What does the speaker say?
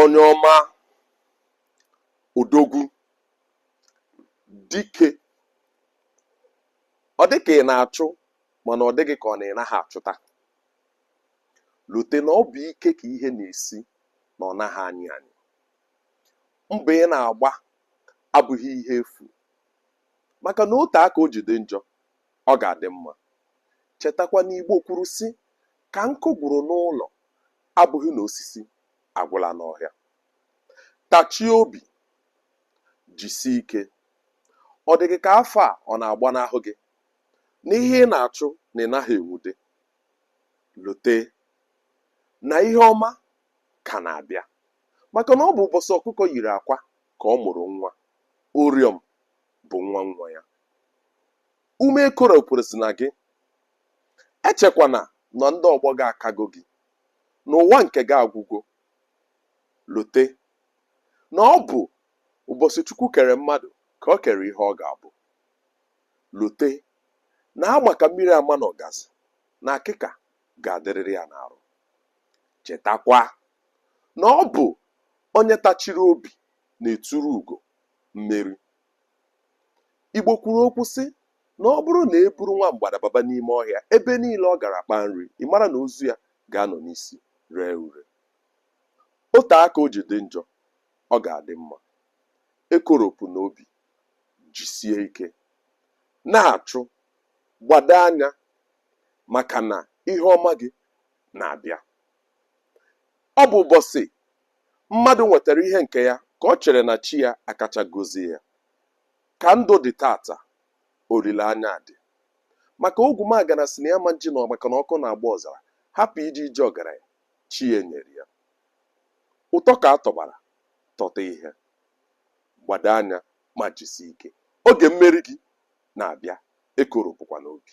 onye ọma odogwu dike ọ dị ka ị na-achụ mana ọ dị gị ka ọ na ị naghị achụta lote na ọ bụ ike ka ihe na-esi na ọ naghị anyị anyị mbọ ị na-agba abụghị ihe efu maka na o tee aka o ji dị njọ Ọ ga-adị mma. Chetakwa na Igbo kwuru sị, Ka nkụ gwụrụ n'ụlọ abụghị na osisi agwụla n'ọhịa. Tachie obi. Jisie ike. Ọ dị gị ka afọ a ọ na-agbanahụ gị? Na ihe ị na-achụ na ị naghị enwude? Lote na ihe ọma ka na-abịa. Maka na ọ bụ ụbọsị ọkụkọ yiri akwa ka ọ mụrụ nwa. Ụrịọm bụ nwa nwa ya ume ekoropụrụsịna gị echekwana na ndị ọgbọ gị akago gị na ụwa nke gị agwụgo lote na ọ bụ ụbọsị chukwu kere mmadụ ka o kere ihe ọ ga-abụ lote na ama ka mmiri ama na ọgazi na akịka ga-adịrịrị ya n'arụ chetakwa na ọ bụ onye tachiri obi na-eturu ugo mmeri. Igbo kwuru okwu sị na ọ bụrụ na e buru nwa mgbada baba n'ime ọhịa, ebe niile ọ gara kpaa nri, ị mara na ozu ya ga-anọ n'isi ree ure. O tee aka o ji dị njọ, ọ ga-adị mma. Ekoropụna obi, jisie ike. Na-achụ, gbado anya maka na ihe ọma gị na-abịa. Ọ bụ ụbọsị Mmadụ nwetara ihe nke ya ka o chere na chi ya akacha gozie ya. Ka ndụ dị tata, olileanya adị. Maka Ogwumagana sị na ya ma nji na maka na ọkụ na-agba ọzara hapụ ije ije ọgaranya chi ya nyere ya. Ụtọ ka a tọbara tọta ihe. Gbado anya ma jisie ike. Oge mmeri gị na-abịa, ekoropụkwana obi.